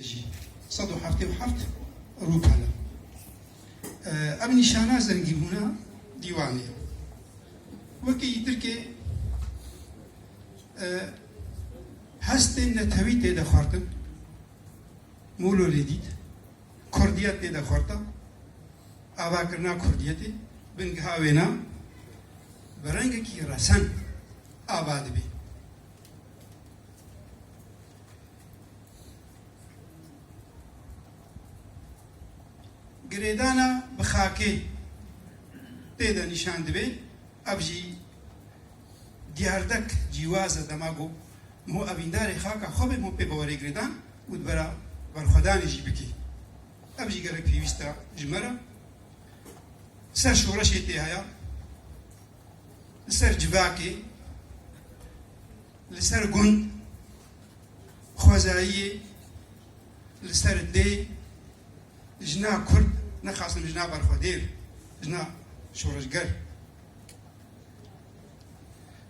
jî sed û heftê û heft rûp hene. Ev nîşana zengîbûna dîwanê ye. Weke yî Tirkê hestên netewî tê de xwartin, mûlo lê dît, kurdiyet tê de xwarta, avakirina kurdiyetê bingeha wêna bi rengekî resen ava dibê. Girêdana bi xakê pê de nîşan dibe, ev jî diyardek cîwaz e dema ku hûn evîndarê xaka xwe bê hûn pê bi werê girêdan û di bera berxwedanê jî bikê. Ev jî gelek pêwîst e ji me re. Ser şoreşê tê haya, Li ser civakê, li ser gund, xwezayiyê, li ser dê, jina kurd, nexasim jina berxwedêr, jina şoreşger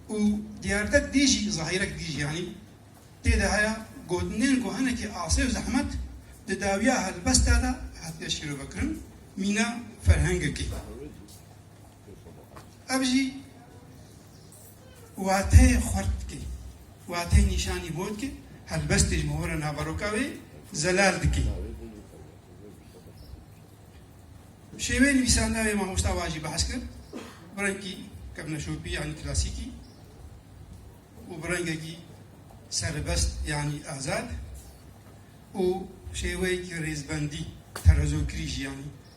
û diyardek dî jî zahîrek dî jî yanî tê de heye gotinên ku hinekî asê û zehmet di dawiya helbesta de hatine şîrovekirin mîna ferhengekê. Ev jî wateyê xurt dike, wateyê nîşanî bo dike, helbestê ji mohora naveroka wê zelal dike. Şêweyê nivîsandina wê mamosta wa jî behs kir, bi rengî kevneşopî yanî klasîkî û bi rengekî serbest yanî azad û şêweyekî rêzbendî terezokirî jî yanî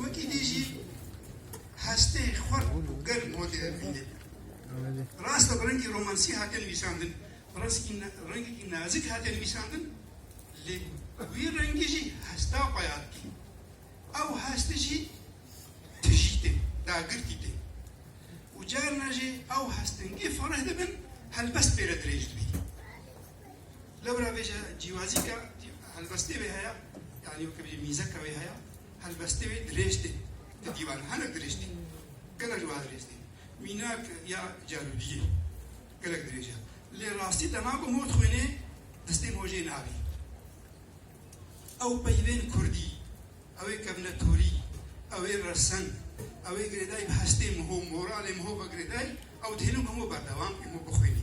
Wekî dî jî hestê xurt û germ hatê hevbînin. Rast e bi rengî romansî hate nivîsandin, rengekî nazik hate nivîsandin lê wî rengî jî hesta payat tê. Ew hest jî tijî tê, dagirtî tê û carna jî ew hestên gê fereh dibin helbest pê re dirêj dibî. Lewra vê jî cîwazî ke helbestê wê heye yanî weke vê mîzeke wê heye helbestê wê dirêj tê di dîwan hinek dirêj tê gelek ji wan dirêj tê mînak ya carûdiyê gelek dirêj e lê rastî te nago mor dixwînê destê mojê nabî ew peyvên kurdî ew ê kevne torî ew ê resen ew ê girêdayî bi hestê miho moralê miho ve girêdayî ew dihêlin ku hemû berdewam hemû bixwînî